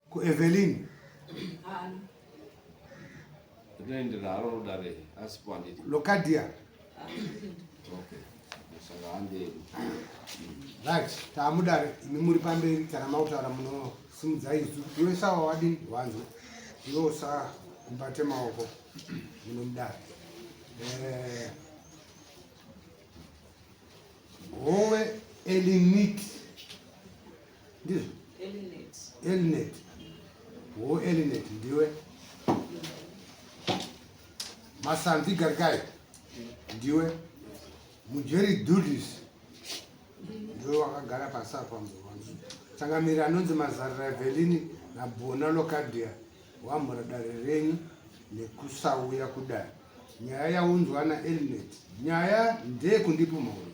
Ku Evelyn. Hana. Rende raro rodare asi pande. Locadia. Okay. Musanga hande. Right. Taamudare imi muri pamberi kana mautaura muno simudza izu. Iwe sawa wadini wanzo. Iwe sa mbate maoko muno mudare. Eh. Howe eliniti. ndizvo elinet wo elinet ndiwe masanzi garikai ndiwe mujeri dudis ndiwe wakagara pasi apa changamiri anonzi mazarira evelini nabona lokadia wamhura dare renyu nekusauya kudare nyaya yaunzwa naelinet nyaya ndeyekundipumhauri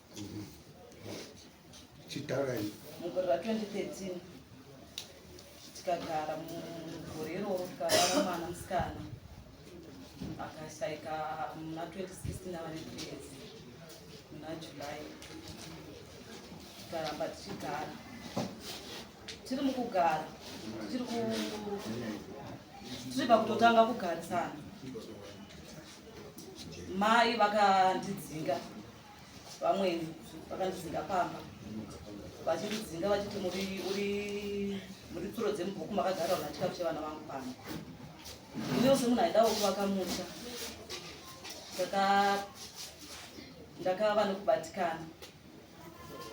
chitarai mugore ra 2013 tikagara mugore iroro tikarara mwana musikana akashaika muna 2016 ava nepresi muna july tikaramba tichigara tiri mukugara tiri tiri pakutotanga kugarisana mai vakandidzinga vamwe vakandidzinga pamba vachindidzinga vachiti muri uri muri tsuro dzemubhuku makagara una chikafu chevana vangu pano iniwo semunhu aidawo kuvaka musha saka ndakava nekubatikana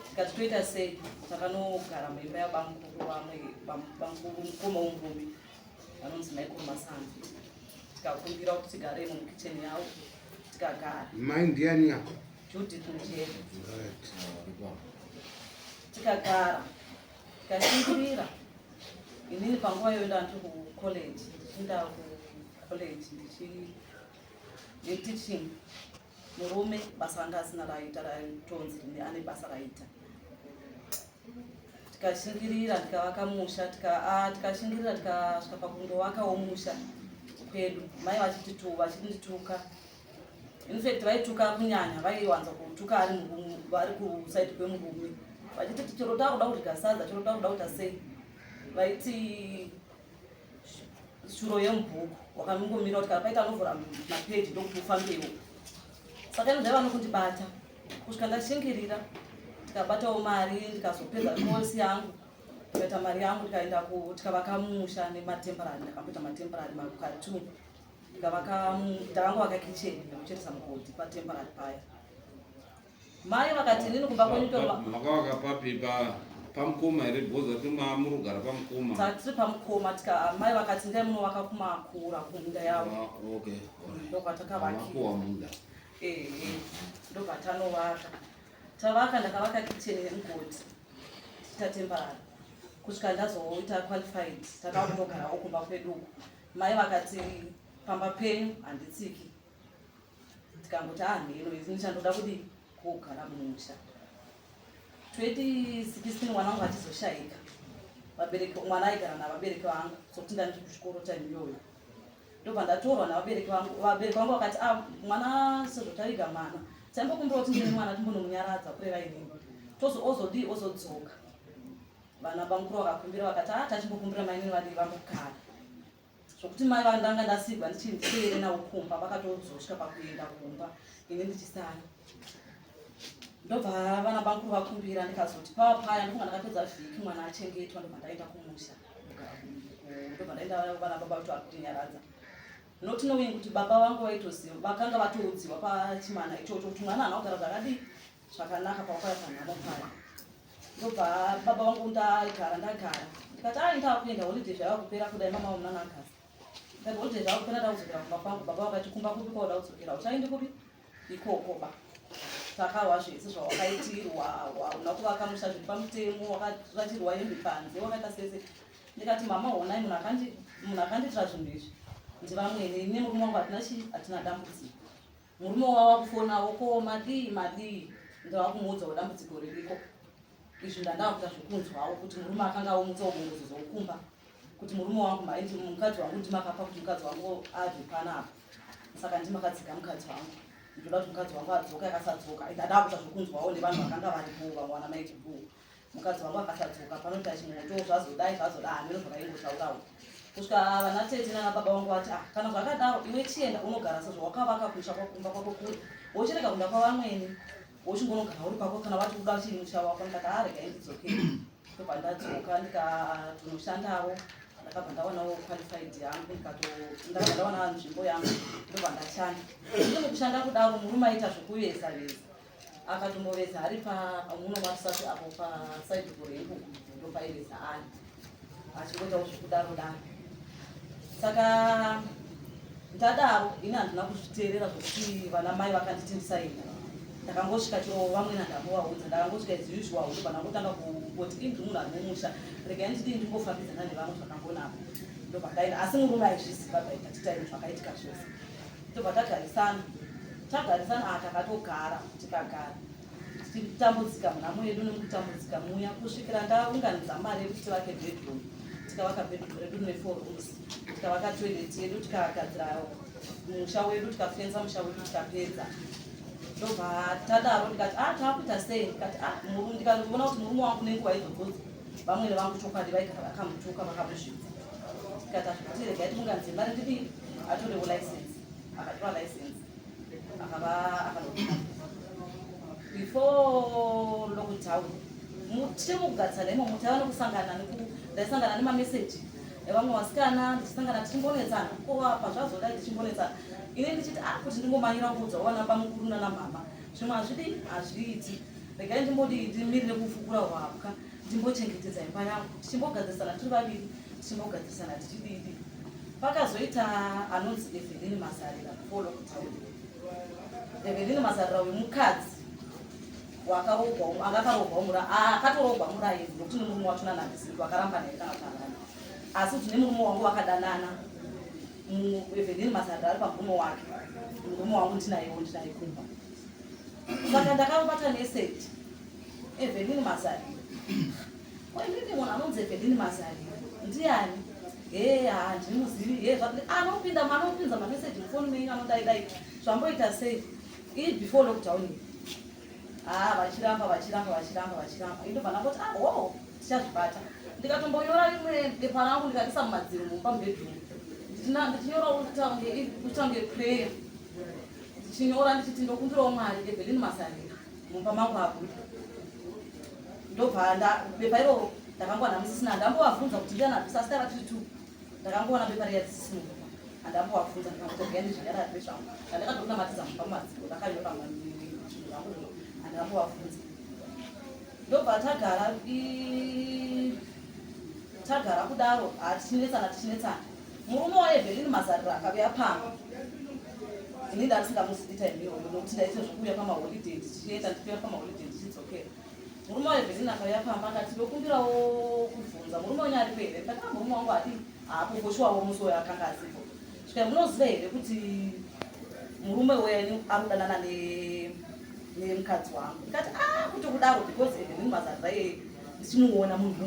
tikati toita sei takanogara muimba yabamukuru vamwe bamukuru mukoma womvumi vanonzi maikuru masanga tikakumbira kuti tigaremo mukicheni yavo tikagara mai ndiani yako judith mujeri tikagara tikashingirira inini panguva iyoyo ndandiri kucollege ndichiinda kucollege ndichi neteaching murume basa anga asina raaita raitonzi ane basa raaita tikashingirira tikavaka musha ah, tikashingirira tikasvika pakundovakawo musha kwedu mai vachitituka vachindituka infact vaituka kunyanya vaiwanza kutuka ari murume vari kusaidi kwemurume vachiti chero takuda kudya sadza chero takuda kuita sei vaiti shuro yemubhuku wakamingomira kuti kana paita anovhura mapeji ndokuti ufambewo saka ino zvaiva nokundibata kusvika ndashingirira tikabatawo mari ndikazopedza konsi yangu tikaita mari yangu tikaenda tikavaka musha nematemporary ndakamboita matemporary maguka t ndikavaka ndakangowaka kitchen nekucheresa mugodhi patemporary paya mai vakati inini kumba kwenyu makavaka papi pa pamukoma here because vati murugara pamukoma tatiri pamukoma tika mai vakati ndai munovaka kumakura kumunda yavo ah, okay ndokwatakavakiwa munda ehe ndobva tanovaka tavaka ndakavaka kitchen nemugoti tatembarara kusvika ndazoita qualified takava kutogarawo kumba kwedu uku mai vakati pamba penyu handitsiki tikangoti anheno ah, izini chandoda kudi kugara mumusha 2016 mwana wangu achizoshaika vabereki mwana aigara navabereki vangu sokuti ndandiri kuchikoro time iyoyo ndobva ndatorwa navabereki vangu vabereki vangu vakati ah, mwana sezvo taviga mwana taimbokumbira kuti ndine mwana timbonomunyaradza kureva inini tozoozodii ozodzoka vana bamukuru vakakumbira vakati ah, tachimbokumbira mainini vadii vambogara zvokuti mai vandanga ndasigwa ndichii ndichiere navo kumba vakatozosvika pakuenda kumba ini ndichisara ndobva vana bakuru vakumbira ndikazoti pava paya ndobva ndakapedza vhiki mwana achengetwa ndobva ndaenda kumusha ndobva ndaenda vana baba kuti vakutinyaradza not knowing kuti baba vangu vaitoziva vakanga vatoudziwa pachimana ichocho kuti mwana hana kugara zvakadii zvakanaka pakwaya panhamo paya ndobva baba vangu ndagara ndagara ndikati ai ndaakuenda holiday zvaiva kupera kudai mama vamunana akazi ndati holiday zvava kupera ndakuzokera kumba kwangu baba vakati kumba kupi kwauda kudzokera uchaende kupi ikoko ba zvakahwa zvese zvawakaitirwa hauna kuvaka musha zviri pamutemo wakaratirwa hembe panze wakaita sese ndikati mama honai munhu akandiitira zvinhu izvi ndivamwene ine murume wangu hatina chii hatina dambudziko murume wava kufonawo ko madii madii ndava kumuudza kudambudziko ririko izvi ndandava kuita zvekunzwawo kuti murume akanga aumutsa ugongozozokumba kuti murume wangu maiti mukadzi wangu ndimakapa kuti mukadzi wangu ave panapa saka ndimakatsiga mukadzi wangu ndoda kuti mukadzi wangu adzoka akasadzoka and adaa kuta zvokunzwawo nevanhu vakanga varipo vamwana maiti buu mukadzi wangu akasadzoka panoti achimoto zvazodai zvazoda hameno zvakaingotaurawo kusvika vana tete nana baba vangu vati ah kana zvakadaro iwe chienda unogara sezvo wakavaka kusha kwakumba kwako kure wochirega kunda kwavamweni uchingonogara uri pako kana vati uda chii musha wako ndikati arega ah, it's okay ndobva ndadzoka ndikatonoshandavo ndakabva ndawanawo qualified yangu ndakabva ndawana nzvimbo yangu ndobva ndashanda ine mukushanda kudaro murume aita zvekuvesa vesa akatombovesa ari pamunomasati apo pasaidi gore ikuku ndopaivesa ari achingoita zvekudaro daro saka ndadaro ini handina kuzviteerera zvekuti vana mai vakanditi ndisaenda ndakangosvika chero vamwena ndamuvaudza ndakangosvika as usual ndobva ndangotanga kuti ini ndimunhu ari mumusha rega ndidii ndingofambidzana nevamwe zvakangonaka ndobva ndaenda asi murume aizviziva baikatitairo zvakaitika zvose ndobva tagarisana tagarisana a ah, takatogara tikagara tiri kutambudzika munhamo yedu nekutambudzika muya kusvikira ndaunganidza mari yekuti tivake bedroom tikavaka bedroom redu rine four rooms tikavaka toilet yedu tikagadzira musha wedu tikafenza musha wedu tikapedza ndobva tadaro ndikati a ah, taakuita sei ndikati a ah, ndikavona kuti murume wangu nenguva idzodzodzi vamwene vangu chokwadi vaigara vakamutuka vakamuzvidza tikati azvikuti regai timunganidze mari ndidii atorewo license akatora license akaba akanokuta before lockdown muchite mukugatsa nemo mutava nekusangana ndaisangana nemameseji evamwe vasikana ndichisangana tichimbonetsana kuva pazvazodai tichimbonetsana ini ndichiti a ah, kuti ndingomanyira kuudzwa wana bamukuru nanamhama zvimwe hazvidi hazviiti regai ndimbodi ndimirire kufukura hwapwa timbochengetedza imba yangu tichimbogadzirisana tiri vaviri tichimbogadzirisana tichididi pakazoita anonzi evelini mazarira folo kutauri evelini mazarira uyu mukadzi wakaroogwa anga akaroogwa mura akatoroogwa muraini nokuti nemurume wacho nanandisiku akaramba naye kana kutangana asi kuti nemurume wangu wakadanana evelini mazarira ari pamurume wake murume wangu ndinayewo ndinaye kumba saka ndakabata message Evelyn Mazariro. Kwendini munhu anonzi Evelyn Mazariro ndiani? Hee haa ndimuzivi hee zvakuti anopinda mwana anopinza mameseji mufoni menyu anodai dai zvamboita sei ii before lockdown iyi haa vachiramba vachiramba vachiramba vachiramba indobva ndangoti ah hoo tichazvibata ndikatombonyora rimwe bepa rangu ndikatisa mumadziro mupa mubedroom ndichinyora utange prayer ndichinyora ndichiti ndokumbirawo mwari evelyn masarira mumba mangu abuda ndobva bepa iroro ndakangowana musisina handambovabvunza kuti ndiani abvisa asi taiva tiri two ndakangoona bepa riya risisina handambovabvunza ndikakutogaya ndezvanyarari nezvangu andakatokunamatidza mumba mumadziko ndakanyora zvangu handambovabvunza ndobva tagara tagara kudaro hatichinetsana tichinetsana Murume waEvelyn Mazariro akave apama ini ndarisingamuzivi time iyoyo nokuti ndaita zvokuuya pamaholiday ndichienda ndichiuya pamaholiday ndichidzokera murume waEvelyn akave apama akati ndokumbirawo kubvunza murume wenyu aripo here ndakati murume wangu ati haakugoshiwawo musi wayo akanga asipo svika munoziva here kuti murume wenyu ari kudanana nemukadzi wangu ndikati a ah, kuti kudaro because Evelyn Mazariro iye ndichimuona munhu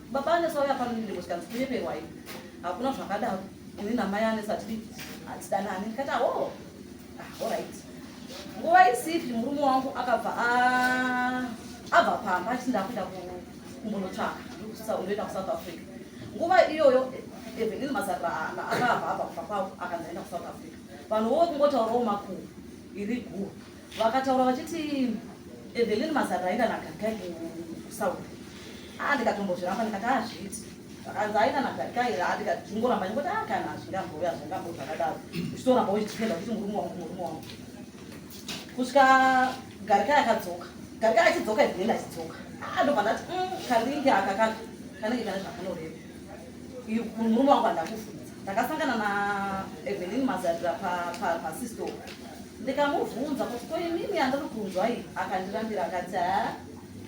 Baba Anesa vauya pano nendimo zvikanzi kuremerwa ivi. Hakuna zvakadaro. Ini namai Anesa tiri hatidanani. Ndikati awo. Ah, all right. Nguva isipi murume wangu akabva ah, abva pamba achiti ndakuenda kumbonotsvaka ndokusa unoenda kuSouth Africa. Nguva iyoyo Evelyn Mazarira akabva abva kumba kwavo akanzi aenda kuSouth Africa. Vanhu wo kungotaurawo makuhu iri guhu. vakataura vachiti evelin mazariro aida nagagai kusaura aa ndikatombozviramba ndikati azviti vakanzi aida nagagai aa ndikati zvingoramba ndingoti a kana hazvingambove hazvingambove zvakadaro zvitoramba uchichipenda kuti murume wangu murume wangu kusvika garikai akadzoka garikai achidzoka evelin achidzoka aa ndobva ndati mm, karingi akakaka kanenge kane zvakanoreva murume wangu andakufunza ndakasangana naevelin mazarira pasistop ndikamubvunza kuti ko imimi yandiri kunzwa iyi akandirambira akati haa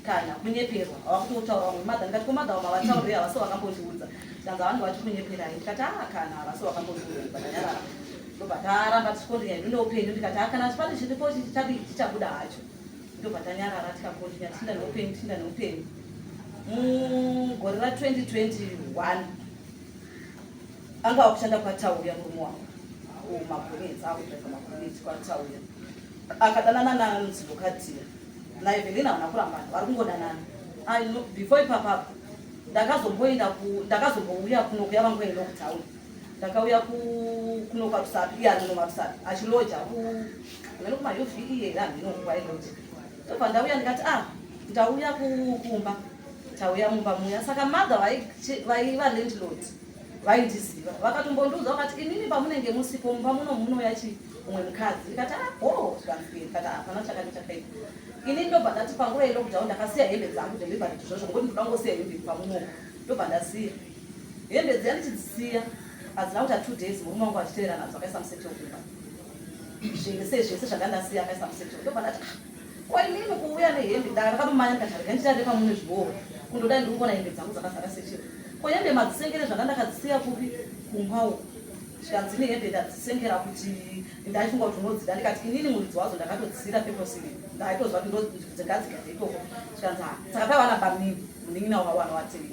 kana kunyeperwa havakutotaura umwe madha ndikati komadha wama vataurei havasi vakambondiudza ndanza vange vachikunyeperai ndikati haa kana havasi vakambondiudza ndikanyarara ndobva taramba tichikondinyaidu neupenyu ndikati haa kana chipani chiripo chichabuda hacho ndobva tanyarara tikakontinya tichiinda neupenyu tichiinda neupenyu mugore ra 2021 anga akushanda kwatauya murume wangu magonetsi akudreva magonetsi kwatauya akadanana nanzivokadhira naevelina havana kurambana vari kungodanana before ipapapo ndakazomboenda ndakazombouya kuno kuya vangu vaenda kutauni ndakauya kuno kwarusapi iye arinoma rusapi achiloja Ndakati kuma UV iye ya ndino kwa iloti. Ndobva ndauya ndikati ah ndauya kumba. Tauya mumba muya saka mother vai vai va landlord vaindiziva. Vakatombondiudza vakati inini pamunenge musipo mumba muno muno yachi umwe mukadzi ndikati ah oh zvakanzwira ndikati hapana chakati chakaita. Inini ndobva ndati panguva ye lockdown ndakasiya hembe dzangu delivery zvozvo ngoti ndoda ngosiya hembe pamuno. Ndobva ndasiya. Hembe dziya ndichidzisiya. Adzina kuita 2 days murume wangu achiteera nadzo akaisa museti wekumba. zvese zvese zvakandasiya akaisa museto ndopanati ah, kwainini kuuya nehembe daka ndakatomanya ndikazvarika ndichitande pamune zvibowo kundoda ndikuona hembe dzangu dzakazara sechero ko hembe madzisengere zvanga ndakadzisiya kupi kumbawo zvikanzi nehembe ndadzisengera kuti ndaifunga kuti unodzida ndikati inini muridzi wadzo ndakatodzisira pekosini ndaitozva kuti ndodzingadzigaza ikoko zvikanzi ah, saka pavana bamini munin'ina wawana watei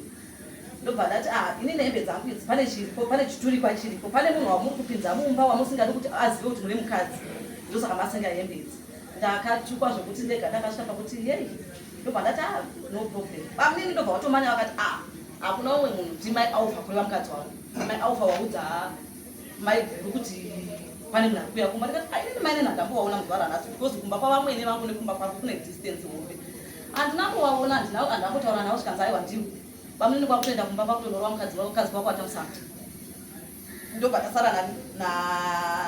ndobva ndati ah ini nehembe dzangu idzi pane chiripo pane chiturikwa chiripo pane munhu wamuri kupinza mumba wamusingadi kuti azive kuti muri mukadzi ndosaka masenga hembe idzi ndakatukwa zvekuti ndega ndakasvika pakuti yei ndobva ndati ah no problem bamnini ndobva watomanya vakati ah hakuna umwe munhu ndi mai alfa kureva mukadzi wangu mai alfa waudza mai bhuru kuti pane munhu ari kuya kumba ndikati ah inini mainini handambovaona mudhara nhasi because kumba kwavamwene vangu nekumba kwangu kune distance hombe Handina kuvaona handina handina kutaura navo zvikanzi aiwa ndiwo. Bamunini kwakutoenda kumba kwakutonorwa mukadzi wavo mukadzi wako watamusanga. Ndobva tasara na na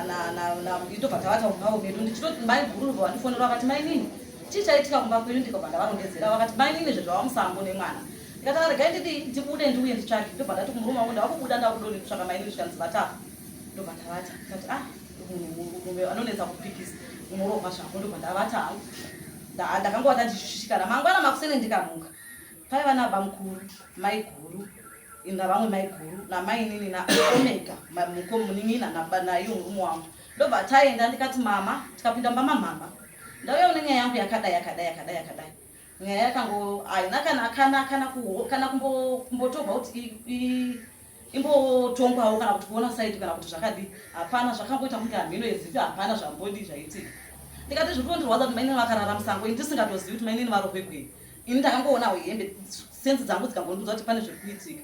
na na na ndobva tavata kumba kwavo medu ndichitoti mai guru vava ndifonera vakati mai nini chii chaitika kumba kwenyu ndikabva ndavarondedzera vakati mai nini zvezvava musango nemwana. Ndikatanga regai ndidi ndibude ndiuye nditsvake ndobva ndati kumurume wangu ndakubuda ndakudoni kutsvaka mai nini zvikanzi vatava. Ndobva tavata ndikati ah munhu anonetsa kupikisa unorova zvako ndobva ndavata hangu. Nda, ndakangowata ndichisvika ramangwana makuseni ndikamuka paiva nabamukuru maiguru inga vamwe maiguru namainini naomega mukomuninina naiyo murume wangu ndobva taenda ndikati mama tikapinda mba mamama ndauya une nyaya yangu yakadai yakadai yakadai yakadai nyaya yakango haina kana kana kana kana kumbotorwa kuti imbotongwawo kana kuti kuona saidi kana kuti zvakadii hapana zvakangoita kunge hamheno yezivi hapana zvambodii zvaitika ndikati zviri kundirwadza kuti mainini vakarara musango ini ndisingatozivi kuti mainini varohwegwei ini ndakangoonawo hembe sensi dzangu dzikangondiudza kuti pane zviri kuitika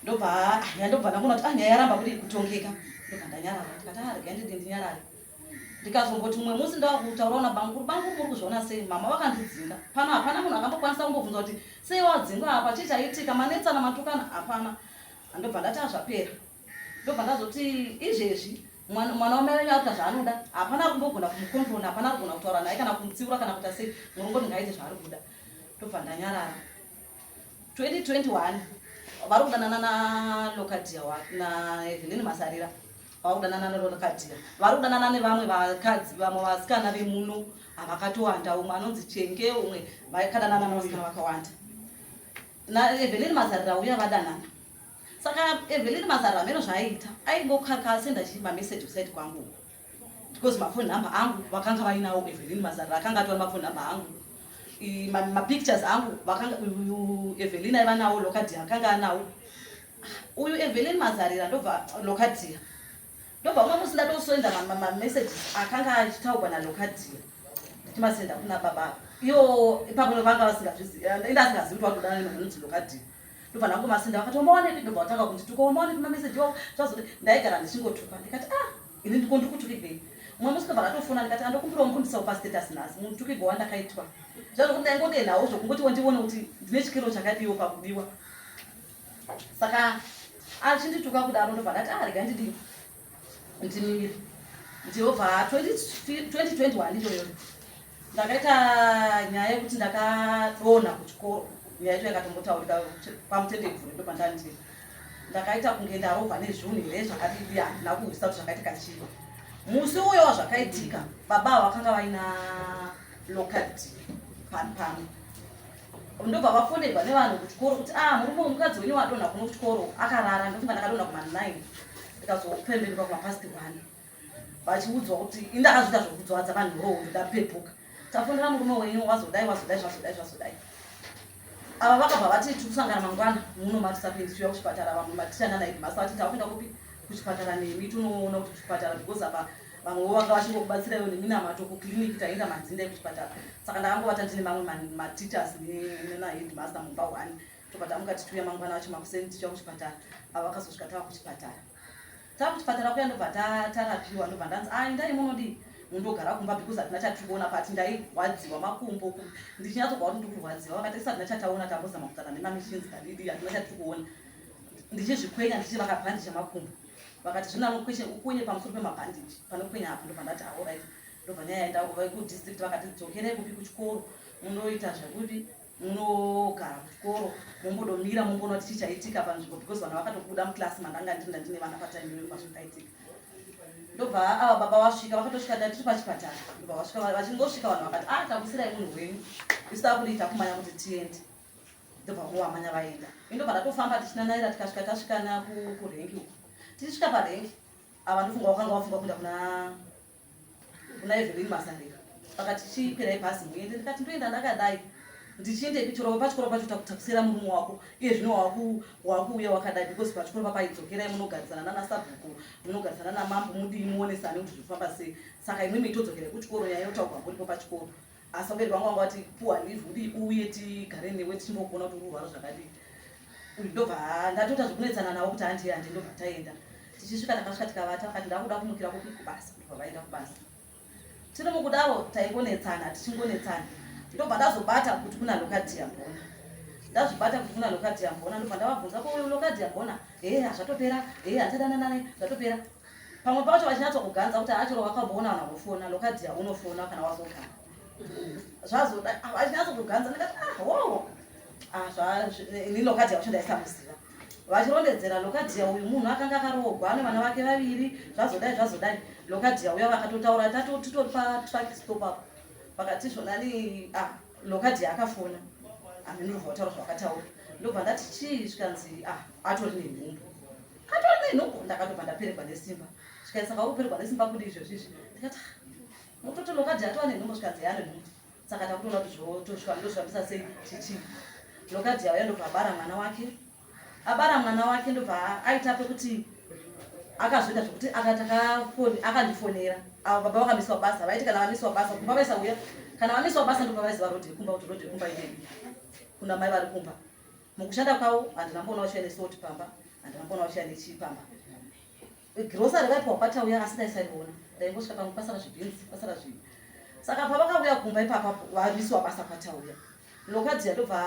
ndobva ah, ndobva ndangona kuti ah, nyaya yaramba kudii kutongeka ndobva ndanyarara ndikati arega ah, ndidi ndinyarare ndikazomboti mumwe musi ndava kutaurawo nabamukuru bamukuru muri kuzviona sei mama vakandidzinga pano hapana munhu akambokwanisa kumbobvunza kuti sei wadzingwa apa chii chaitika manetsana matukana hapana ndobva ndati azvapera ndobva ndazoti izvezvi mwana wamai venyu akuita zvaanoda hapana ari kumbogona kumukontrona hapana ari kugona kutaura naye kana kumutsiura kana kuita sei murungo ndingaite zvaari kuda ndobva ndanyarara 2021 vari kudanana nalokadia naevelin masarira vakudanana neronakadhira vari kudanana nevamwe vakadzi vamwe vasikana vemuno havakatowanda umwe anonzi chenge umwe vakadanana nevasikana vakawanda naevelin mazarira uya vadanana saka evelin mazarira meno zvaaiita aingokaka asenda chii mameseji kusaiti kwangu uko because mafoni number angu vakanga vainawo evelin mazarira akanga atora mafoni number angu mapictures angu evelin aiva nawo lokadhi akanga anawo Uyu Evelyn Mazarira ndobva Locadia. Ndobva umwe musi ndatosenda mamessages akanga achitaugwa naLocadia. Ndichimasenda kuna baba. Iyo ipapo vanga vasingazvizivi. Eh, Inda asingazivi kuti wakudana nemunhunzi Locadia. Ndobva ndangu masenda vakati umawanepi ndobva watanga kundituka umawanepi mamessage iwawo zvazoti ndaigara ndichingotukwa ndikati ah ini ndiko ndikutukigei mumwe musi ndobva ndatofona ndikati andokumbirawo mukundisawo pastatus nhasi mutukigwa wandakaitwa zvazokuti ndaingodenhawo zvokungoti wandione kuti ndine chikero chakadiwo pakubiwa saka achindituka kudaro ndobva ndati arega ah, ndidii ndimire ndiyobva 2021 iyoyo ndakaita nyaya yekuti ndakadona kuchikoro nyaya yacho yakatombotaurika pamutendekure ndobva ndandiri ndakaita kunge ndarova nezvunhu here zvakadii handina kuhwisa kuti zvakaitika chii musi uyo wazvakaitika baba vakanga vaina locality pano pano ndobva vafonerwa nevanhu kuchikoro kuti ah murume wemukadzi wenyu wadonha kuno kuchikoro akarara ndofunga ndakadonha kuma nine ndikazopembenuka kuma past one vachiudzwa kuti indakazvita zvokudzwadza vanhu roo ndapepuka tafonera murume wenyu wazodai wazodai zvazodai zvazodai ava vakabva vati tiri kusangana mangwana muno matisapendi tiuya kuchipatara vamwe matichana naidmasa vati takuenda kupi kuchipatara nemi tinoona kuti kuchipatara because apa vamwewo vanga vachingokubatsira ivo neminamato kuclinic taiita madzinda ekuchipatara saka ndakangovata tine mamwe mateachers nenaheadmaster mumba one tobva tamuka tichiuya mangwana vacho makuseni tichiya kuchipatara avo vakazosvika tava kuchipatara tava kuchipatara kuya ndobva tarapiwa ndobva ndanzi a indai munodii mundogara kumba because hatina chatiri kuona pati ndairwadziwa makumbo ku ndichinyatsogwa kuti ndikurwadziwa vakati isati hatina chataona tambozama kutsana nemamishinzi kadidi hatina chatiri kuona ndichizvikwenya ndichivakabhandisha makumbo vakati zvino amukwiche ukwinye pamusoro pemabhandiji panokwinya apo ndobva ndati aorit ah, ndobva nyaya yaenda vekudistrict vakati dzokerei kupi kuchikoro munoita zvekuti munogara kuchikoro mombodomira momboona kuti chii chaitika panzvimbo because vana vakatobuda muclass mandanga ndiri ndandine vana pataimeikwazvakaitika ndobva ava baba vasvika vakatosvika tatiri pachipatara ndobva vasvika vachingosvika vanhu vakati a ah, takusirai munhu wenyu isu takudiita kumanya kuti tiende ndobva kuwamanya vaenda indobva ndatofamba tichinanaira tikasvika tasvikana kurengi uku tichisvika parengi ava ndofunga wakanga wafunga kuenda kuna kuna evelin masareka pakati tichikwira ibhasi muende ndikati ndoenda ndakadai ndichindepi chorova pachikoro pacho takutakusira murume wako iye zvino wakuuya wakadai because pachikoro papaidzokerai munogarisana nana sabhuku munogarisana namambo mudii muonesane kuti zvifamba sei saka imwe mitodzokera kuchikoro nyaya yotaurwa muripo pachikoro Asi vabereki vangu vanga vati puwa leave kuti uye tigare newe tichimbokuona kuti ururwara zvakadii. Uyu ndobva ndatoita zvekunetsana navo kuti handiye handi ndobva taenda. Tichisvika takasvika tikavata vakati ndakuda kumukira kupi kubasa ndobva vaenda kubasa. Tiri mukudaro taingonetsana tichingonetsana ndobva ndazobata kuti kuna lokadhi yagona. Ndazvibata kuti kuna lokadhi yagona ndobva ndavabvunza ko lokadhi yagona hee hazvatopera hee handichadanana naye zvatopera Pamwe pacho vachinatsa kuganza kuti achero wakamboona kana kufona lokadia unofona kana wazogara. Zvazoda ah, vachinatsa kuganza ndikati ah wo. Ah zva ni lokadia wacho ndaisamuziva. Vachirondedzera lokadia uyu munhu akanga akarogwa ane vana vake vaviri zvazodai zvazodai. Lokadia uya vakatotaura tato titori pa track stop up. Pakati zvonani ah lokadia akafona. Amene ah, unotaura zvakataura. Ndobva ndati chii zvikanzi ah atori nenhumbu. Katone no ndakatobva ndaperekwa nesimba. Zvikanzi saka uperwa nesimba kudi izvozvi izvi. Ndikati ah, mutotolo kadi atova nenhumbu zvikanzi yane nhumbu. Saka takutoona kuti zvotosvika ndozvambisa sei chichii. Lokadi yauya ndobva abara mwana wake. Abara mwana wake ndobva aita pekuti akazoita zvekuti akandifonera avo baba vakamiswa basa vaiti kana vamiswa basa kumba vaisauya kana vamiswa basa ndobva vaiziva rode kumba kuti rode kumba inei kuna mai vari kumba Mukushanda kwavo handina kuona vachiya nesoti pamba, handina kuona vachiya nechii pamba. Girosari vaipwa kwatauya asi ndaisariona, ndaingosvika pamwe pasara zvibhinzi, pasara zvinhu. Saka pavakauya kumba ipapa vavisiwa basa kwatauya. Lokadziya ndobva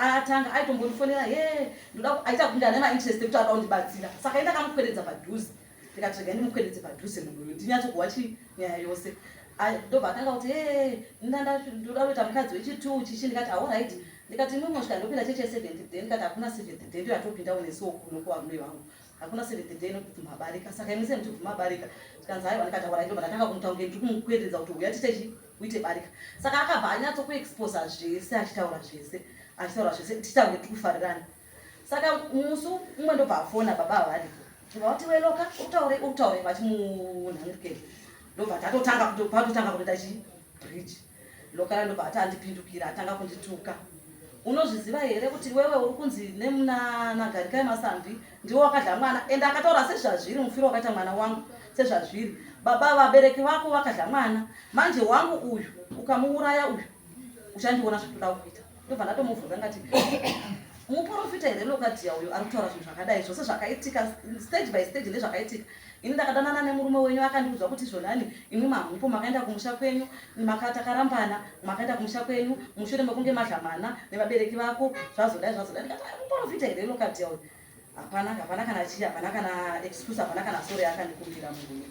atanga aitombonifonera, he, ndoda aita kunge ane mainterest ekuti ada kundibatsira. Saka indakamukweredza padhuze. ndikati rega ndimukwenedze padhuze munhu uyu ndinyatsokuhwa chi nyaya yose ndobva atanga kuti e ndoda kuita mukadzi wechitwo chichi ndikati aoraiti ndikati imwe mosvika ndopinda cheche seventy day ndikati hakuna seventy day ndiyo yatopinda unesoko unokuvarume vangu hakuna seventy day nokuti mabarika saka imwe seventy bvu mabarika tikanzi haiwa ndikati aoraiti ndobva ndatanga kumutaunge ndiri kumukwenedza kuti huya tiite chi uite barika saka akabva anyatsokuexposa zvese achitaura zvese achitaura zvese titange tikufarirana saka musi umwe ndobva afona baba avo varipo ndobva vati weloka ukutaure ukutaure vachimunhanirikei ndobva tatotanga patotanga kutoita chi bridge lokana ndobva ati andipindukira atanga kundituka unozviziva here kuti wewe uri kunzi nemunanagarikai masambi ndiwo wakadla mwana ende akataura sezvazviri mufiro wakaita mwana wangu sezvazviri baba vabereki vako vakadla mwana manje wangu uyu ukamuuraya uyu uchandiona zvatoda kuita ndobva ndatomuvhura ngati muprofita here lokadiya uyo ari kutaura zvinhu zvakadai zvose zvakaitika stage by stage nezvakaitika ini ndakadanana nemurume wenyu akandiudza kuti zvonani imi mamhupo makaenda kumusha kwenyu makatakarambana makaenda kumusha kwenyu mushure mekunge mazhamana nevabereki vako zvazodai zvazodai ndikati muprofita here lokadiya uyo hapana hapana kana chii hapana kana excuse hapana kana sore akandikumbira murume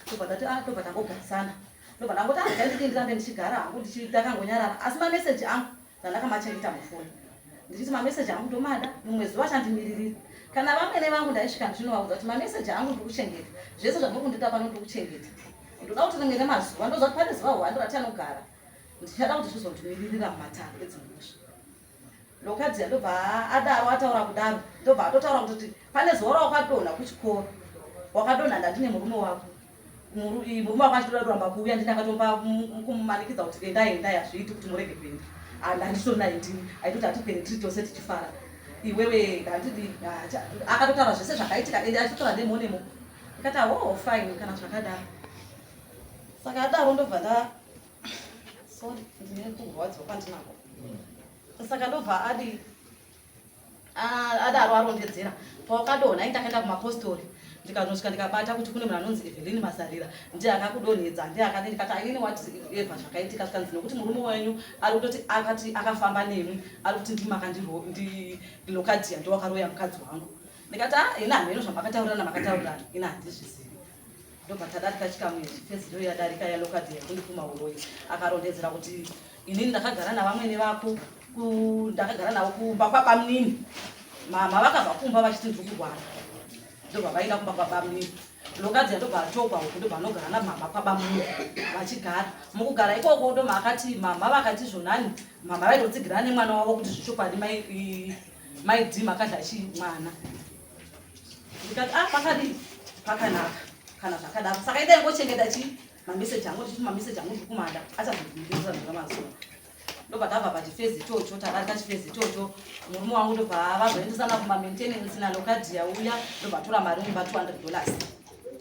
tobva tati a ah, tobva tangogarisana ndobva ndangoti agai kuti ndirambe ndichigara hangu ndakangonyarara asi mameseji angu zvandakamachengeta mufoni ndichiti mameseji angu ndomada mumwe zuva achandimiririra kana vamwene vangu ndaisvika ndichinovaudza kuti mameseji angu ndikuchengeta zvese zvamuri kundita pano ndikuchengeta ndoda kuti rimwe remazuva ndoziva kuti pane zuva hwando ratianogara ndichada kuti zvizondimiririra mumatare edzimhosva Lokadziya ndobva adaro ataura kudaro ndobva atotaura kutoti pane zuva rawakadonha kuchikoro wakadonha ndati nemurume wako murume wako achitoda kuramba kuuya ndini akatomba kumumanikidza kuti endai endai hazviiti kuti murege kuenda and handisona indini aitoti hatipere tiri tose tichifara iwewe handidi akatotaura zvese zvakaitika ende achitotaura nemonemo ndikati awo oh, fine kana zvakadaro saka adaro ndobva nda sorry ndine kurwadziwa kwandinako saka ndobva adi adaro arondedzera pawakadonha inge ndakaenda kumapostori ndikanosvika ndikabata kuti kune munhu anonzi evelini mazarira ndiye akakudonhedza ndiye akati ndikati aine wat eva zvakaitika zvikanzi nokuti murume wenyu ari kutoti akati akafamba nemi ari kuti ndii makandilokadiya ndiwakaroya mukadzi wangu ndikati a ah, ina hameno zvamakataurirana makataurirana ina handizvizivi ndobva tadarika chikamu ichi fesi ndiyo yadarika yalokadhi yekundifuma uroyi akarondedzera kuti inini ndakagara navamwene vako ndakagara navo kumba kwabamunini mama vakabva kumba vachiti ndiri kurwara ndobva vaenda kumba kwabamunini lokadzi yandobva atokwa uku ndobva anogara namama kwabamunini vachigara mukugara ikoko ndoma akati mama vakati zvonani mama vaitotsigirana nemwana wavo kuti zvechokwadi maidhima akadla chi mwana ndikati ah pakadii pakanaka kana zvakadaro saka idai ngochengeta chi mameseji angu ndichiti mameseji angu ndikumada achazondimirira zvamazuva ndobva tava pachifezi ichocho takati kachifezi ichocho murume wangu ndobva vazoendesana kumamaintenance nalokadia uya ndobva tora mari umba 200 dollars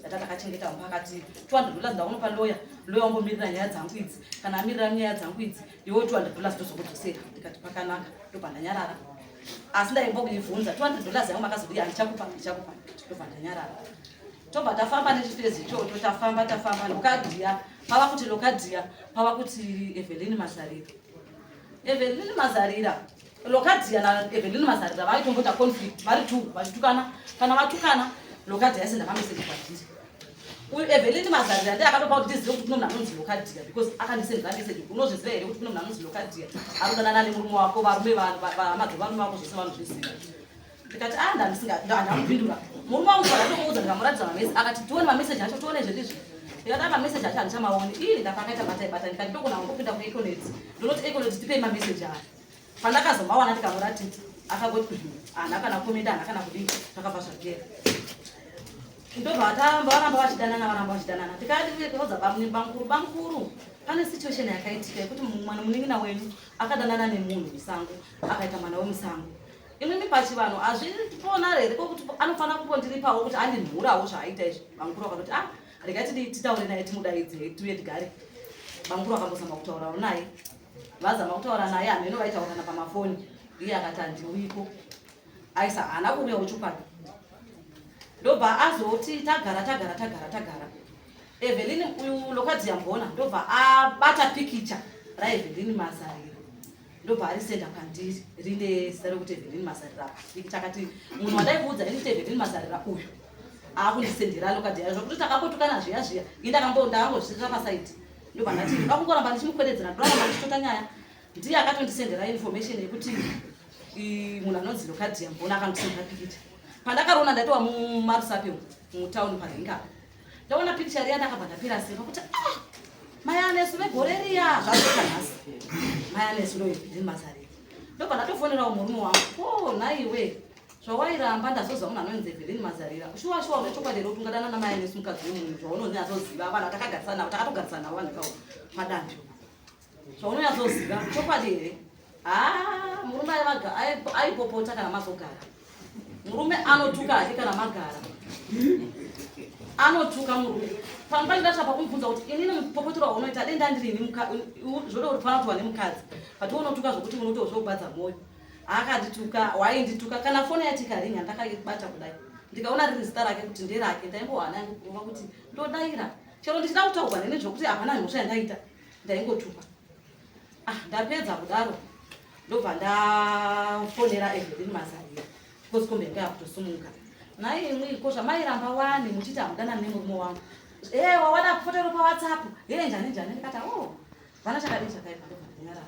data takachengeta umba akati 200 dollars ndaono paloya loya wambomirira nyaya dzangu idzi kana amirira nyaya dzangu idzi iwo 200 dollars ndozokudzosera ndikati pakanaka ndobva ndanyarara asi ndaimbomivhunza 200 dollars yangu makazokuti handichakupa ndichakupa ndobva ndanyarara tobva tafamba nechifezi ichocho tafamba tafamba lokadhiya pava kuti lokadhiya pava kuti evelini mazarira evelini mazarira lokadhiya naevelini mazarira vaitomboita conflict vari two vachitukana kana vatukana lokadhiya yaise ndakamesei kwadziri Uyu Evelyn Mazarira ndiye akatopa kuti tizive kuti kune munhu anonzi Lokadia because akandisendera message kuti unozviziva here kuti kune munhu anonzi Lokadia anodanana nemurume wako varume vanhu vahama dzevarume vako zvese vanozviziva ndikati ah ndandisingandamupindura murume wangu pandatomuudza ndikamuratidza mamesi akati tione mamessage acho tione zvezvizvi ndikati mamessage acho handichamaoni ii ndapakaita bataibata ndikati ndokona kungopinda kueconet ndonoti econet tipei mamessage ayo pandakazomawana ndikamuratidza akagoti hmm, haana kana komenda haana kana kudii zvakabva zvapera ndozvataramba varamba vachidanana varamba vachidanana ndikaatiroza bamukuru bamukuru pane situation yakaitika yekuti mwana munin'ina wenyu akadanana nemunhu musango akaita mwana wemusango imimi pachivanhu hazvitoonare here kokuti anofanira kumbondiripawo kuti andinhurawo zvaaita izvi bamukuru akatoti a ah, regai titaure naye timudaidze tiuye tigare bamukuru akambozama kutaurawo naye vazama kutaura naye hameno vaitaurana pamafoni iye akati handiuyiko aisa haana kuuya kuchokwadi ndobva azoti tagara tagara tagara tagara evelin uyu lokadzi yambona ndobva abata pikicha raevelin mazariro ndobva arisenda pandiri rine zita rekuti evelin mazariro apa pikicha akati munhu wandaikuudza ini kuti evelin mazariro uyu akundisendera lokadzi yayo zvokuti takambotukana zviya zviya ini ndakambondakangozvisirira pasaidi ndobva ndati ndoda kungoramba ndichimukweredzera ndoda kuramba ndichitota nyaya ndiye akatondisendera information yekuti munhu anonzi lokadia mbona akandisendera pikita pandakaroona ndaitowa mumarusape mutown paringa ndaona pikicha riya ndakabva ndapera simba kuti ah, mayanesu vegore riya zvazoka nhasi mayanesu ndoyepiri mazari ndobva ndatofonerawo murume wangu o oh, naiwe zvawairamba ndazozwa munhu anonzi evelin mazarira shuwa shuwa une chokwadi here kuti ungadana namai ane simukadzi wemunhu zvaunonyatsoziva vanhu atakagarisana navo takatogarisana navo vanhu kao padando zvaunonyatsoziva chokwadi here haa murume aipopota kana mazogara murume anotuka hake kana magara anotuka murume pano pange ndasvapa kumubvunza kuti inini mupopotero waunoita denda ndirini zvoda kuti panotowa nemukadzi but unotuka zvokuti unotoozvogwadza mwoyo akandituka waindituka kana foni yati ikaringa ndakaibata kudai ndikaona riri zita rake kuti nderake ndaimbohana yangu kurova kuti ndodaira chero ndichida kutaurwa nene zvokuti hapana mhosva yandaita ndaingotuka ah ndapedza kudaro ndobva ndafonera evelin mazarira because kumbe ndaya kutosumuka nhai imwi ko zvamairamba wani muchiti hamudanani nemurume wangu e eh, wawana kufotero pawhatsapp ye njani njani ndikata o oh, vana chakadii chakaipa ndobva ndanyarara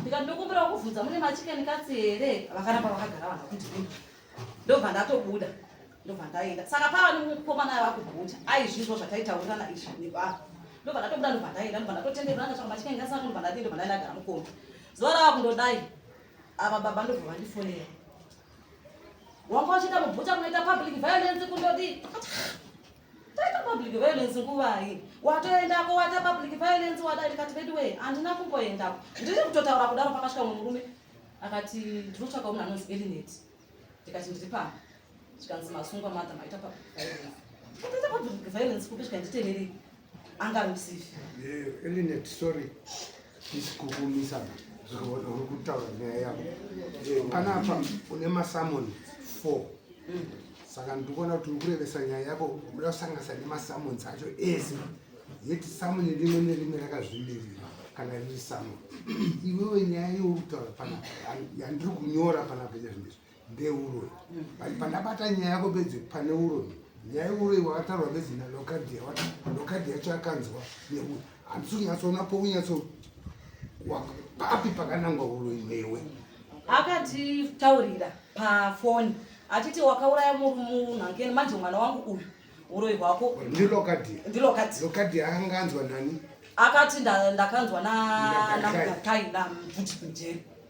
ndikati ndokumbira kuvhunza mune machikeni katsi here vakaramba vakagara vanhu kuti ndobva ndatobuda ndobva ndaenda saka pava nemukomana ava kubhuta aizvizvo zvataitaurirana izvi nevanhu ndobva ndatobuda ndobva ndaenda ndobva ndatotenderana tsvaka machikeni katsi ndobva ndadii ndobva ndaenda agara mukombi zuva rava kundodai ava baba ndobva vandifonera wanga uchiita mubhuta kunoita public violence kundodii taita public violence nguvai watoendako waita public violence wadai ndikati veduwee handina kumboendako ndiri kutotaura kudaro pakasvika mumwe murume akati ndinotsvaka munhu anonzi elinet ndikati ndiri pano zvikanzi masungwa madha maita public violence ataita public violence kupi zvikanditeverei angarisifi elinet sorry tisikukumisa uri kutaura nyaya yako panapa une masamoni four saka ndikuona kuti uri kurevesa nyaya yako uda kusanganisa nemasamoni acho ese yeti samoni rimwe nerimwe rakazvimirira kana riri samoni iwewe nyaya youri kutaura panapa yandiri kunyora panapa nezvinezvi ndeuroyi but pandabata nyaya yako bedzi pane uroyi nyaya yeuroyi wakataurwa bedzi nalokadhi yawati lokadhi yacho yakanzwa neu handisi kunyatsoona pounyatso papi pakanangwa uroyi newe akatitaurira pafoni achiti wakauraya munhu ange manje mwana wangu uyu uroyi hwako ndilokadhi ndilokadhi lokadhi akanga anzwa nani akati ndakanzwa nadakai namvuti mjeri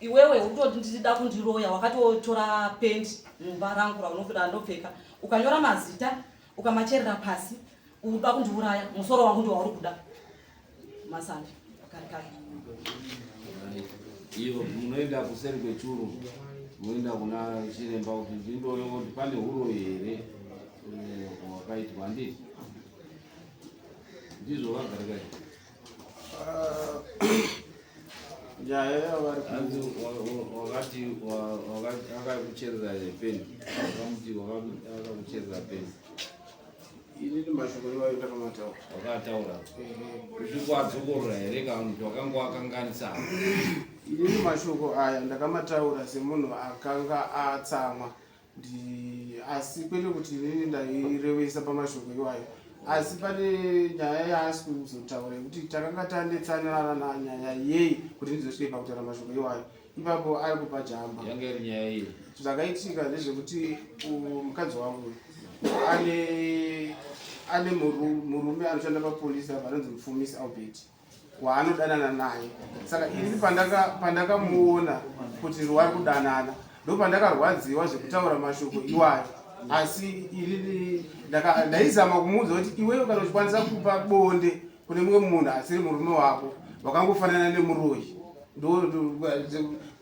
iwewe utoti ndida kundiroya wakatotora pendi mumba rangu raunoda ndopfeka ukanyora mazita ukamacherera pasi uda kundiuraya musoro wangu ndiwauri kuda masandi karikari iyo munoenda kuseri kwechuru munoenda kuna chiremba kuti ndindoona kuti pane uroyi here eh, wakaitwa handiti ndizvo vagarikari wakataura usiku wadzokorora here kana kuti wakanga wakanganisa inini mashoko aya ndakamataura semunhu akanga atsamwa asi kwete kuti inini ndairevesa pamashoko iwayo asi pane nyaya yaasi kuzotaura yekuti takanga tanetsanana nanyaya yei kuti ndizosvike pakutaura mashoko iwayo ipapo ari kupa jamba yanga iri nyaya yei zvakaitika ndezvekuti mukadzi wangu ane ane murume anoshanda papolisi apa anonzi mufumisi albert waanodanana naye saka ini pandakamuona pandaka kuti rwari kudanana ndopandakarwadziwa zvekutaura mashoko iwayo asi ini ndaizama kumuudza kuti iwewe kana uchikwanisa kupa bonde kune mumwe munhu asiri murume wako wakangofanana nemuroyi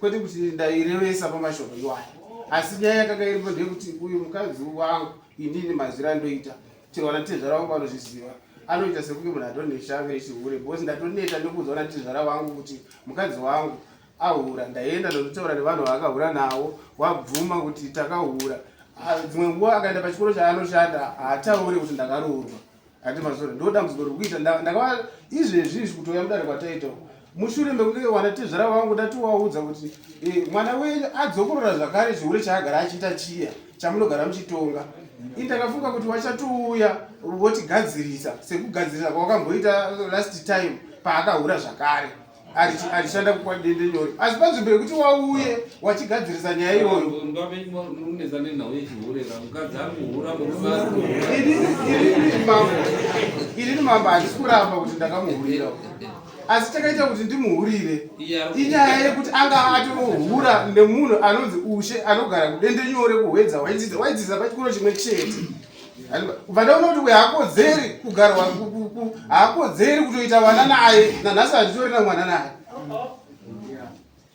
kwete kuti ndairevesa pamashoko iwayo asi nyaya yakanga iripo ndeyekuti uyu mukadzi wangu inini mazvira ndoita chero vana tezvara vangu vanozviziva anoita sekunge munhu atoneshanga echihure because ndatoneta nekuudza vana tezvara vangu kuti mukadzi wangu ahura ndaienda ndototaura nevanhu vaakahura nawo wabvuma kuti takahura ah, dzimwe nguva akaenda pachikoro chaanoshanda haataure kuti ndakaroorwa ati mazora ndo dambudziko rekuita ndakava izvezvi izvi kutouya mudare kwataita mushure mekunge wana tezvara vangu ndatiwaudza kuti eh, mwana wenyu adzokorora zvakare chihure chaagara achiita chiya chamunogara muchitonga ini ndakafunga kuti wachatouya votigadzirisa sekugadzirisa kwawakamboita last time paakahura zvakare achishanda kukwadende nyore asi panzvimbo yekuti wauye wachigadzirisa nyaya iyoyo inini mambo handisi kuramba kuti ndakamuhurira asi chakaita kuti ndimuhurire inyaya yekuti anga atohura nemunhu anonzi ushe anogara kudende nyore kuhwedza waidzidza waidzidza pachikoro chimwe chete vandaona kuti we haakodzeri kugarwa haakodzeri kutoita vana naye nanhasi handitorina mwana naye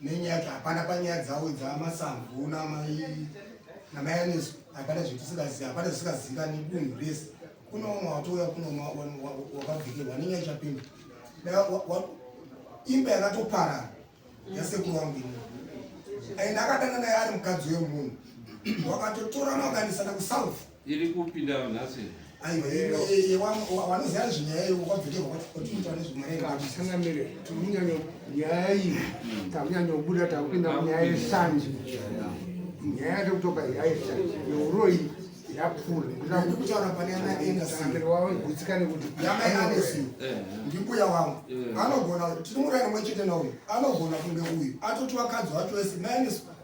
nenyaya hapana panyaya dzawo dzamasamvu namai namayaneso hapana zvetisingazivi hapana zvisingazivikani dunhu rese kune umwe watouya kune umwe wakabvikirwa nenyaya chapinda imba yakatoparana yasekuru wangu ini aenda akadana naye ari mukadzi wemunhu wakatotora makanisa nakusouth Iri kupinda nhasi. Aiwa yeye wanoziva zvinyaya yeye kwabvekeva kwati kuti kuti wane zvinyaya. Katisangamire tinomunyanya nyaya iyi hmm. tamunyanya kubuda takupinda munyaya yesanje. Nyaya yake kutoka nyaya yesanje yeuroyi yapfuura kuda kutaura pane ana Anderson wawe gutsikane kuti yama Anderson eh, eh. ndimbuya wangu eh. anogona tinomurayira mwe chete nauyu anogona kunge uyu atoti vakadzi vacho vese mayanisi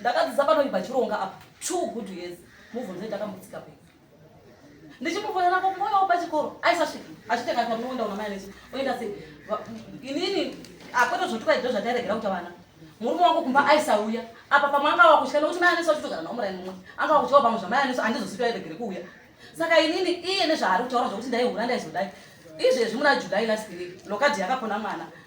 ndakadzidza panoi pachironga apa two good years move on ndakambotsika pe ndichimufonera ko moyo pachikoro aisasvika achitenga kana munoenda una mai nechi oenda sei inini akwete zvotuka izvo zvatairegera kuta vana murume wangu kumba aisauya apa pamwe anga wakutya nokuti mai aneso achitogara naomurai mumwe anga wakutyawo pamwe zvamai aneso andizosito airegere kuuya saka inini iye nezvaari kutaura zvokuti ndaihura ndaizodai izvezvi muna judai last week lokadhi yakapona mwana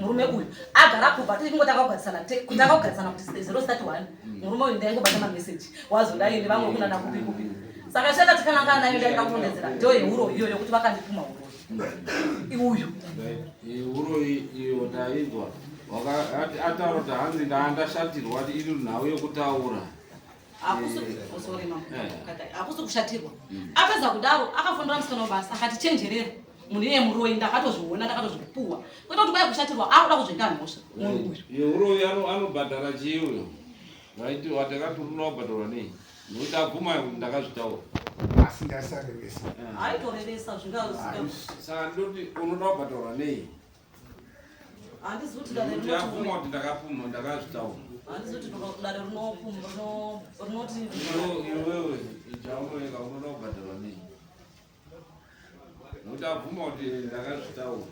murume uyu agara kubva tichingotanga kugarisana kutanga kugarisana kuti zero start one murume uyu ndaingobata mameseji wazodai nevamwe kunana kupi kupi saka chata tikanangana nayo ndaida kuonedzera ndo yehuro iyo yokuti vakandipuma uroyi iuyu uroyi iyo ndainzwa ataura kuti hanzi ndandashatirwa iri nhau yokutaura hakusi eh. kushatirwa mm. apedza kudaro akafonera musikana wabasa akati chenjerera munhu iye muroyi ndakatozviona ndakatozvipuwa kwete kuti kwai kushatirwa akuda kuzvita mhosva uroyi anobhadhara chii uyo vaiti watakati unoda kubhadharwa nei nokuti abvuma ndakazvitaura asingasarevesa eh. aitorevesa zvingaasaa ndoti unoda kubhadharwa nei handizi kuti dare rinobvuma kuti ndakapumha ndakazvitaura handizi kuti dare rinoti iwewe ijaureka unoda kubhadharwa nei nokuti abvuma kuti ndakazvitaura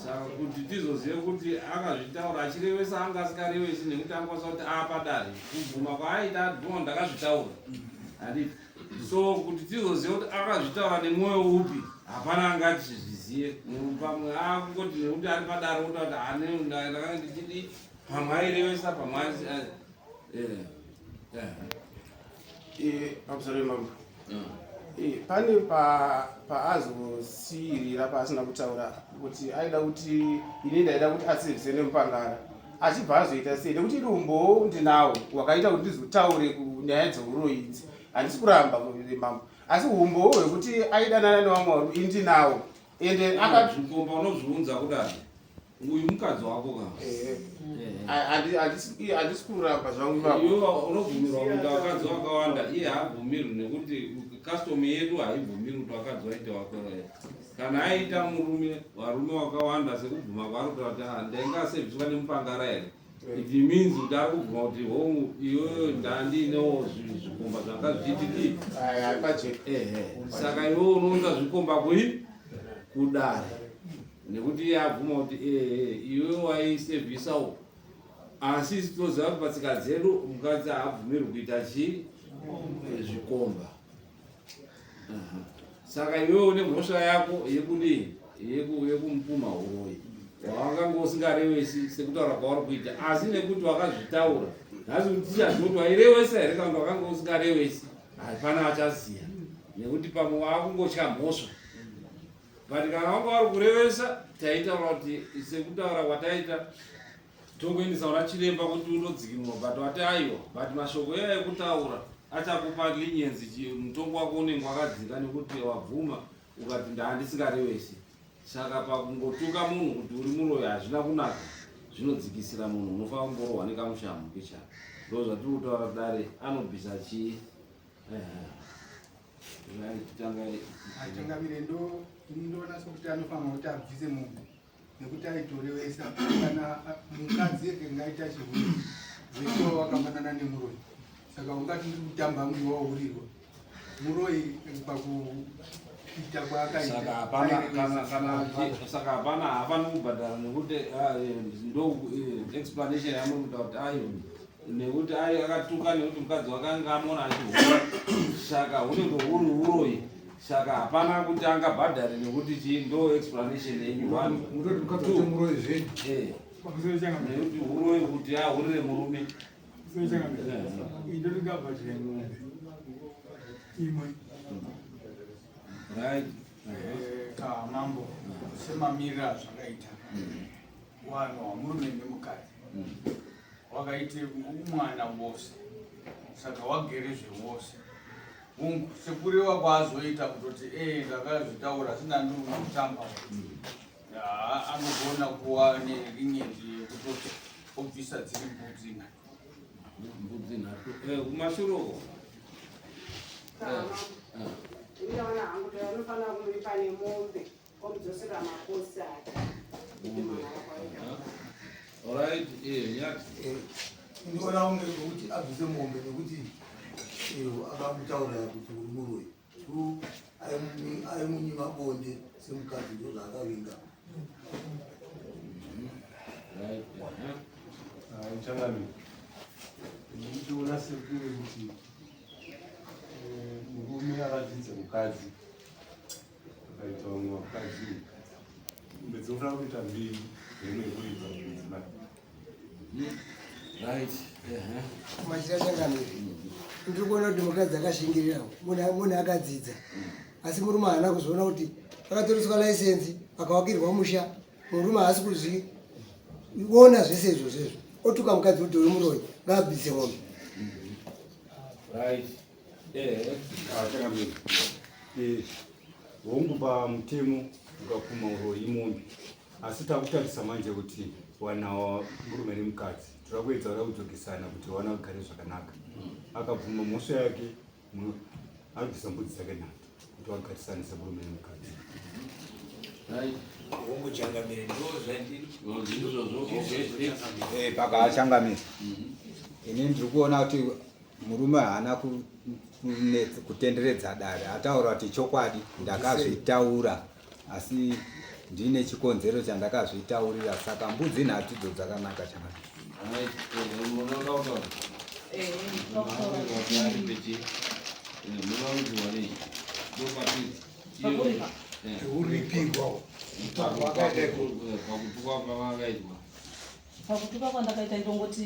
saka kuti tizozive kuti akazvitaura achirevesa anga asikarevesi nekuti angwasa kuti apa dare kubvuma kwaaita abvuma ndakazvitaura handiti so kuti tizoziva kuti akazvitaura nemwoyo upi hapana angatizvizive pamwe akungoti nekuti ari padaro kuta kuti ane ndakanga ndichidi pamwe airevesa pamwe asi eh, eh, eh. pamusoro wemambo pane paazosiirira paasina kutaura kuti aida kuti ini ndaida kuti asevise nemupangara achibva azoita sei nekuti iri umbowo ndinawo hwakaita kuti ndizotaure kunyaya dzeuroyi idzi handisi kuramba mambo asi umbowo hwekuti aidanana nevamwe varu indinawo ende akazvikomba unozviunza kudai uyu mukadzi wako ka handisi kuramba zvangu ivo unobvumirwa kuita vakadzi vakawanda iye haabvumirwi nekuti kastomu yedu haibvumirwi kuti vakadzi vaite vakorera kana aita murume varume vakawanda sekubvuma kwaari kuta kuti ah, ndainge asevhiswa nemupangara here it means kuti ari kubvuma kuti hongu iyoyo ndandiinewo zvikomba zvanga zvichititi ehe saka iwewo unounza zvikomba kui kudare nekuti iye abvuma kuti ehe iyoyo waisevhisawo asi isi tinoziva kuti patsika dzedu mukadzi haabvumirwi kuita chii zvikomba saka iwewe une mhosva yako yekudii yekumupuma uroyi wakange usingarevesi sekutaura kwauri kuita asi nekuti wakazvitaura nhasi kuti tichazoti wairevesa here kana kuti wakange usingarevesi hapana achaziya nekuti pamwe waakungotya mhosva but kana wanga wari kurevesa taitaura kuti sekutaura kwataita tongoendesa kuna chiremba kuti unodzikinurwa but wati aiwa but mashoko eya ekutaura achakupa linyenzi mutongo wako unenge wakadzika nekuti wabvuma ukati ndaandisingarevesi saka pakungotuka munhu kuti uri muroyi hazvina kunaka zvinodzikisira munhu unofanira kumborohwa nekamushamu kechana ndo zvatiri kutaura dare anobvisa chii zvaitanga atangamire ndo ndoona sokuti anofanira kuti abvise munhu nekuti aitorevesa kana mukadzi yeke ngaita chihuri zesho wakafanana nemuroyi saka ungati ndiri kutamba hangu iwahurirwa muroyi pakuita kwaakaita hapana hapana kubhadhara nekuti ah, eh, ndo eh, explanation yamuri kutaura kuti ayo nekuti ayi akatuka nekuti mukadzi wake anga amona achihura saka hunenge huri uroyi saka hapana kuti angabhadhare nekuti chii ndo explanation yenyu one eh. nekuti uroyi kuti ahurire murume right eh, ka mambo semamirira zvakaita mm. wanhu wamurume nemukadzi mm. wakaite mwana wose saka wagere zvewose hungu sekureva kwaazoita kutoti e ndakazvitaura sinandiunotamba anogona kuva nerinyendi yekutoti obvisa dziri mbudzi mbudzi nhatu eh, kumashure uko ndinoona kunge kuti abvise mombe nekuti akamutaurira kuti uri muroyi u aimunyima bonde semukadzi ndo zvaakavinga uchangamira ndichiona sekuru kuti eh, murume akadzidze mukadzi Akaita vamwe vakadzi kumbe dzinofanira kuita mbiri dzimwe kuita kudzina. Right. Mazita changano. Ndiri kuona kuti mukadzi akashingirira munhu akadzidza asi murume haana kuzoona kuti akatoriswa laisenzi akavakirwa musha murume haasi kuzviona zvese izvozvo izvo otuka mukadzi kuti uri muroyi ngaabvise mombe right Eh, achakamira. Ah, eh, hongu pamutemo ukapfuma uroyi mombe asi takutarisa manje kuti wana murume nemukadzi tira kuedza vada kudzokesana kuti wana vagare zvakanaka akabvuma mhosva yake anobvisa mbudzi dzake nhatu kuti vagarisane semurume nemukadzi eh, pakaachangamira mhm. ini ndiri kuona kuti Murume haana kutenderedza dare, ataura kuti chokwadi ndakazvitaura asi ndine chikonzero chandakazvitaurira saka mbudzi nhatidzo dzakanaka chana pakutuka kwandakaita ndongoti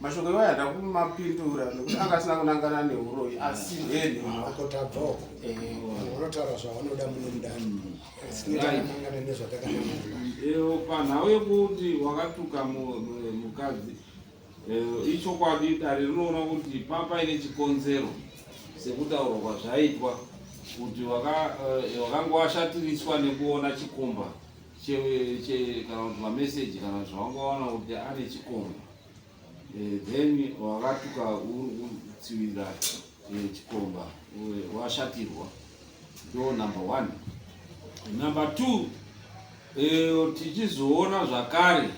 mashoko iwayo hada kumapindura nekuti anga asina kunangana neuroyi asi nhenhaakotabvoko ah, eh. unotaura zvaunoda muno mudani mm. sinotanangana nezvatakaeo panhau yekuti wakatuka mukadzi eh, ichokwadi dare rinoona kuti papa ine chikonzero sekutaurwa kwazvaitwa kuti eh, wakanga washatiriswa nekuona chikomba kana kuti mameseji kana zvawanga waona kuti ane chikomba eh, then wakatuka urikutsivirira eh, chikomba eh, washatirwa ndo number one number two eh, tichizoona zvakare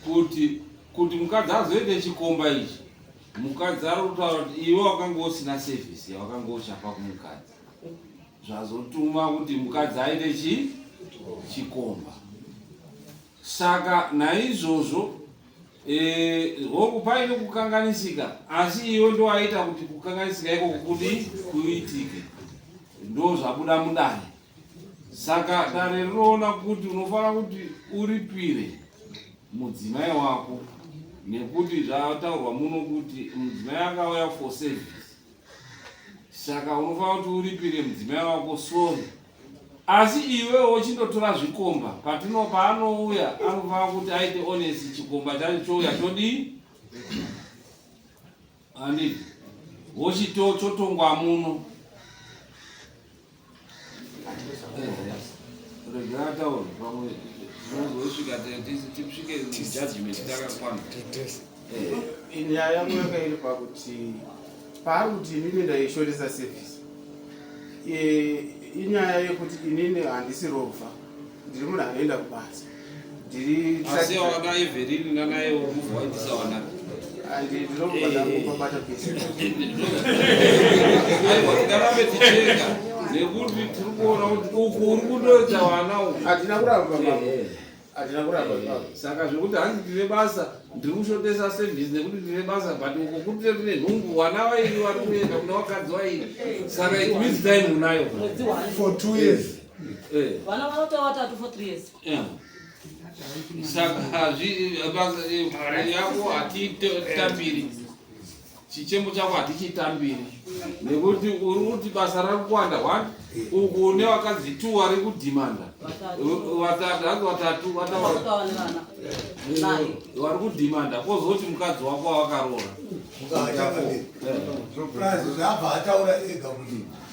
kuti kuti mukadzi azoite chikomba ichi mukadzi ari kutaura kuti iwe wakanga usina sevhisi yawakanga uchapa kumukadzi zvazotuma kuti mukadzi aite chi chikomba Saka naizvozvo eh, hongu e, paine kukanganisika, asi iwe ndowaita kuti kukanganisika iko kuti kuitike, ndo zvabuda mudare. Saka dare rinoona kuti unofanira kuti uripire mudzimai wako, nekuti zvataurwa muno kuti mudzimai akauya for service, saka unofanira kuti uripire mudzimai wako sorry asi iwewo chindotora zvikomba patino paanouya anofana kuti aite honest chikomba chacho chouya chodii andii wochito chotongwa muno regera taura pamwe tinozosvika tisvike judgment takakwana Eh, nyaya yangu yanga iri pakuti paari kuti inini ndaishoresa service eh, inyaya yekuti inini handisi rovha ndiri munhu anoenda kubasa ndiri nekuti tiri kuona kuti uku uri kundoita vana uku hatina kuramba eh, hatina kuramba zvavo saka zvekuti hanzi tine basa ndiri kushotesa service nekuti tine basa but uko kutite tine nhumbu wana vairi vari kuenda kuna vakadzi vairi saka it means time unayo for two years eh. vana vanotaura vatatu for three years eh. saka hazvi basa eh, yako hatitambiri chichemo chako hatichitambiri nekuti uri kuti basa rari kuwanda one uku une vakadzi two vari kudhimanda vatatu vatatu vari kudhimanda kozoti mukadzi wako wavakaroora zvabva ataura ega kuti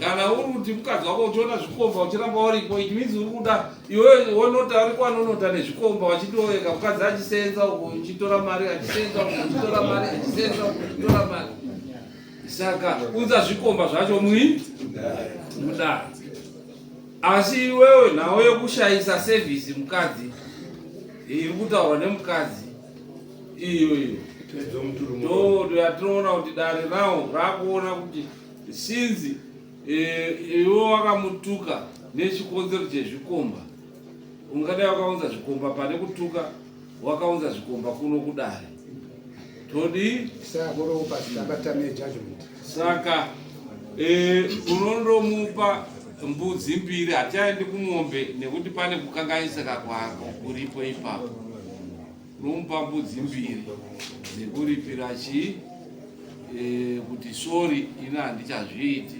kana uri kuti mukadzi wako uchiona zvikomba uchiramba uripo it means uri kuda iwe wonota uri kwanonota nezvikomba wachitoeka mukadzi achisenza uko uchitora mari achisenza uko uchitora mari achisenza uko uchitora mari saka unza zvikomba zvacho mui mudaro asi iwewe nhau yekushayisa sevhisi mukadzi iri kutaurwa nemukadzi iyo iyo ndoyatinoona kuti dare nawo raakuona kuti Zvisinzi eh, iwo wakamutuka nechikonzero chezvikomba ungadai wakaunza zvikomba pane kutuka wakaunza zvikomba kuno kudare todi saka eh, unondomupa mbudzi mbiri hatiaendi kumombe nekuti pane kukanganisa kakwako kuripo ipapo Unomupa mbudzi mbiri dzekuripira chii e, kuti sori ini handichazviiti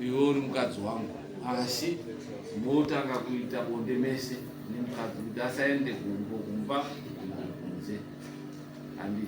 iwe uri mukadzi wangu asi motanga kuita bonde mese nemukadzi kuti asaende kumba kunze handii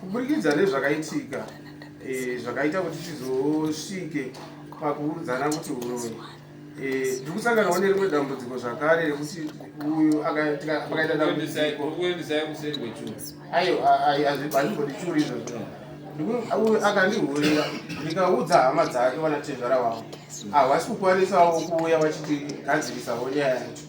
kuburikidza nezvakaitika eh, zvakaita kuti tizosvike pakuudzana kuti uroyi eh, tiri kusanganawo nerimwe dambudziko zvakare rekuti uyu pakaita dambudziko aiwazvibandibodi churi izvozvo uyu akandihurira ndikaudza hama dzake vanatezvara wavo havasi kukwanisawo kuuya vachiti gadzirisawo nyaya yacho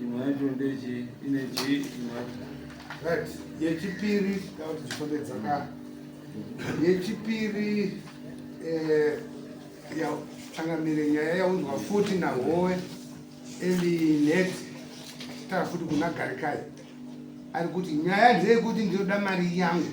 Imwe yacho ndechi ine G imwe yacho. Right. Yechipiri takuti dzifambe dzaka. Yechipiri eh ya changamire nyaya yaunzwa futi na Howe eli net takuti kuna Garikai. Ari kuti nyaya dzeye kuti ndinoda mari yangu.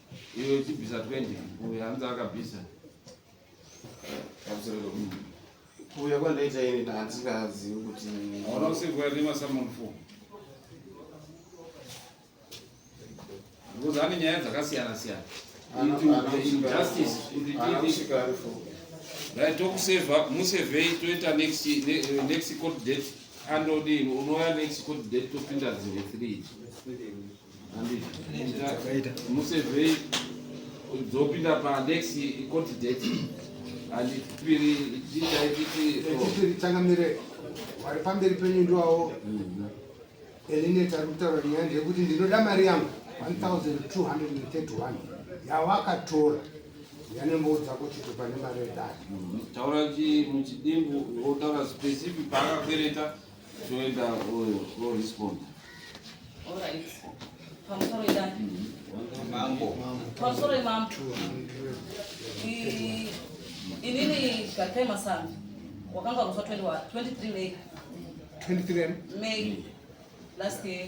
Iwe uchibvisa 20 uyu hanzi akabvisa pamusoro pemunhu kuuya kwandaita ini handisikazivi kuti ona usirwa ri masamon four because ane nyaya dzakasiyana siyana injustice right tokuseva musevei toita next next court date andodii unouya next court date topinda dzimwe three musevhei dzopinda panext court date handipiri chitaichitiri tangamire vari pamberi penyu ndiwawo elineti ari kutaura nyaya ndeyekuti ndinoda mari yangu 1231 yawakatora yanembowo dzako chito pane mari yedare taura muchidimbu wotaura specific paakakwereta Toenda o respond. All right. Pamusoro ida. Mambo. Pamusoro imambo. Inini Gatai Masango. Wakanga kusa 21, 23 May. 23 May last year.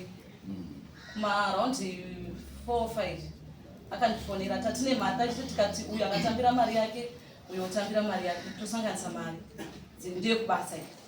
Ma around 4 5 akandifonera tatine mari tachiti tikati uyu akatambira mari yake uyo otambira mari yake tosanganisa mari dzimbi ndeyekubasa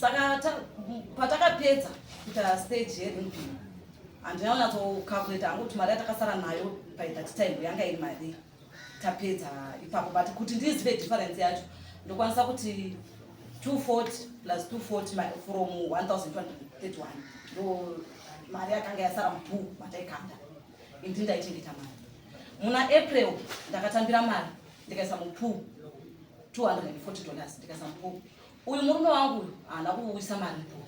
saka patakapedza kuita stage yerimpini handina unatsokakuleta hangu kuti mari yatakasara nayo paithat time yanga iri mari tapedza ipapo but kuti ndizive difference yacho ndokwanisa kuti 24 plus 24 from 1231 ndo mari yakanga yasara mubhuku mataikanda indi ndaichengeta mari muna april ndakatambira mari ndikaisa mupuu 240 dollars ndikaisa mupuu Uyu murume wangu uyu haana kuuyisa maripo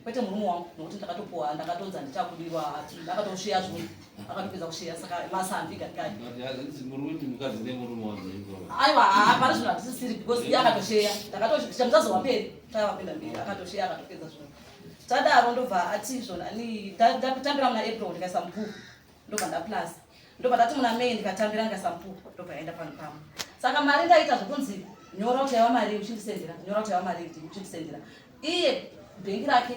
kwete murume wangu nokuti ndakatopuwa ndakatonza ndichakudirwa ndakatosheya zvimwe akatopedza kusheya saka masambiga kani aiwa hapana zvinhu hatisisiri because iye akatosheya ndakatochamuzazowa mberi tavapinda mberi akatosheya akatopedza zvimwe tadaro ndobva ati zvona ndatambira muna april ndikaisa mubhuku ndobva ndaplus ndobva ndati muna mei ndikatambira ndikasampu ndobva yaenda pano pamwe saka mari ndaita zvekunzi nyora kuti yava mari uchindisendera nyora kuti yava mari uchindisendera iye bhengi rake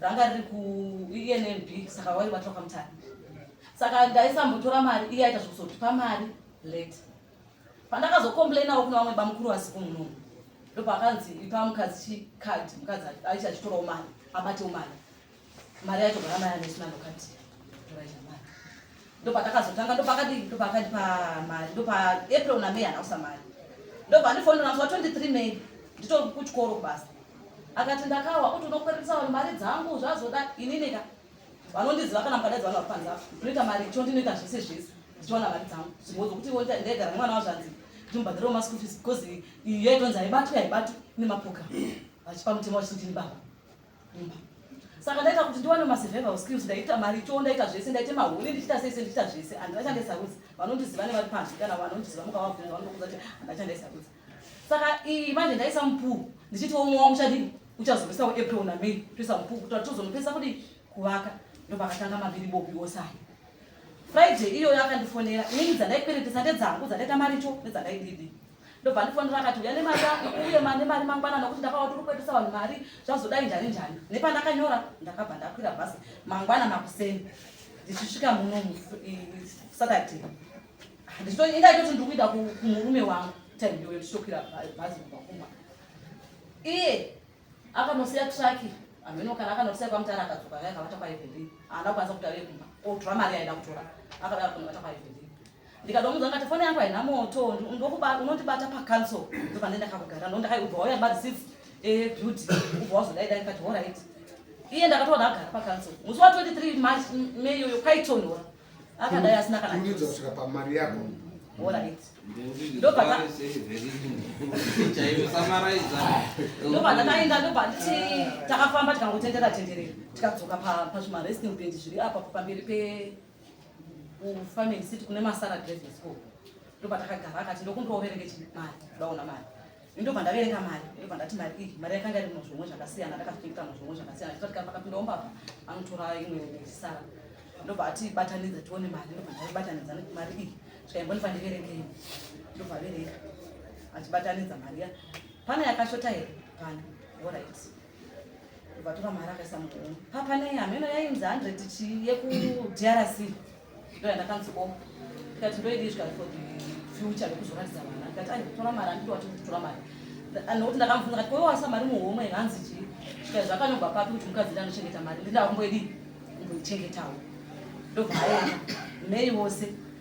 ranga riri kuenmb saka wari vatora kamutari saka ndaisambotora mari iye aita zvekuzotipa mari late pandakazokomplainawo kuna vamwe bamukuru vasiku munomu ndopakanzi ipa mukadzi chikadi mukadzi aisha achitorawo mari abatewo mari mari yacho gava maya nesu mandokati toraita mari ndopatakazotanga ndopakati ndopakati pamari ndopa april namay hanausa mari ndobva andifonera mazuva 23 may ndito kuchikoro kubasa akati ndakawa kuti unokwererisa vanhu mari dzangu zvazoda ininika vanondiziva kana mukadaidzi vanhu vapanza ndinoita mari cho ndinoita zvese zvese ndichiwana mari dzangu zvingo dzokuti ndaigara nemwana wazvanzi ndimubhadhira wemaschool fees because iyo yaitonzi haibatwi haibatwi nemaprogram vachipa mutemo vachiti ndini baba saka ndaita kuti ndiwane masurvival skills ndaita maricho ndaita zvese ndaita mahuni ndichiita sese ndichiita zvese and ndachandai sarudzi vanondiziva nevati panzwi kana vanondiziva mukavabvunza vanokuza kuti handachandai sarudzi saka iyi manje ndaisa mupuu ndichiti womwe wangu chadii uchazopesa uapril namay toisa mupuu kuti vatozonopesa kuti kuvaka ndopakatanga maviri bobi ose aya friday iyoyo akandifonera inini dzandaikweretesa ndedzangu dzandaita maricho nedzandaididi ndobva ndifonera akati uya nemari yako uye mane mari mangwana nokuti ndakawati uri kuendesa vanhu mari zvazodai njani njani nepandakanyora ndakabva ndakwira bhasi mangwana makuseni ndichisvika muno saturday ndichitoinga itoti ndiri kuita kumurume wangu taiyoyo ndichitokwira bhazi kubva kumwa iye akanosiya traki ameno kana akanosiya kwamutara akadzoka akaakavata kwaivendii haana kukwanisa kuti ave kumba otora mari yaida kutora akadaro kunavata kwaivendii ndikadomuza ndikati foni yangu haina moto unotibata pacancel ndopande ndakakugara ndo ndakaubva wauya bad since eh, beauty ubva wazodaida ndikati horit iye ndakatoa ndagara pacancel musi wa 23 march may yoyo kaitonhora akadai asina kana kusvika pamari yako horit ndopandakaenda ndobva nditi takafamba tikangotendera tenderera tikadzoka pazvimaresting bendi zviri apa pamberi pe kufamily city kune masara grade school ndopatakagara akati ndokumbiwa uverenge mari ndaona mari ndobva ndaverenga mari ndobva ndati mari iyi mari yakanga iri muzvimwe zvakasiyana ndakazviita muzvimwe zvakasiyana chitati kana pakapinda umbavha anotora imwe sara ndobva ati batanidza tione mari ndobva ndaibatanidza mari iyi zvikaimbonefa ndiverengei ndobva verenga achibatanidza mari ya pane yakashota here pane orit vatora mari akaisa muhomwe papana iyi hameno yainzi hundred chi yekudrc ndo yandakanzi o ndikati ndoidi izvika for the future vekuzoratidza vana ndikati ai kutora mari andidi wati kutora mari nokuti ndakamubvunza kati kwewe waisa mari muhomwe hanzi chi svika zvakanyogwa papi kuti mukadzi ndi anochengeta mari ndindakumboidi kumboichengetawo ndobva aenda mary wose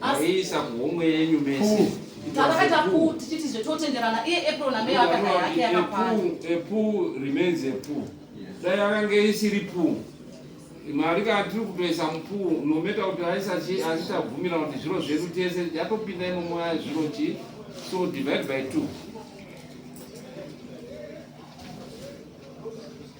aiisa kuhomwe yenyu mese tavakaita pu tichiti zve totenderana iye april namei akadai yake yakakwana epu remains epu dai yakange isiri pu mari kana tiri kutoisa mupu nometa kuti aisachabvumira kuti zviro zvedu tese yatopinda imomo zviro chi so divide by two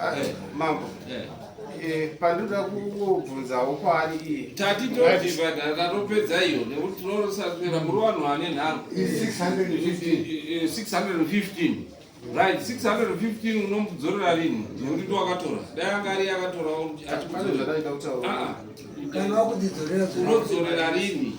Ah, mambo eh, pandinoda kubvunzawo kwaari iye tati todhibhadha tatopedza iyo nekuti tinosaswera muri vanhu vane nharo 615 right 615 unomudzorera rini nekuti ndiwakatora dai anga ari yakatora achikudzorera ah, ah. unodzorera rini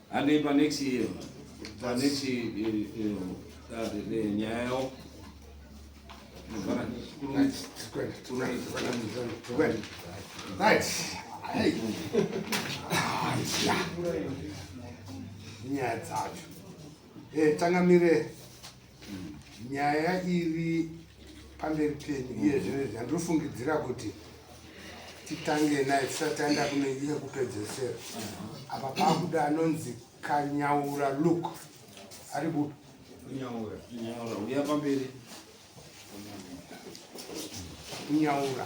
Handei panext year panext nyaya yao nyaya dzacho tangamire nyaya iri pamberi penyu iye zvino zvandinofungidzira kuti titange naye tisati taenda kune iye kupedzesera apa pakuda anonzi kanyaura luk ari kupi kunyaura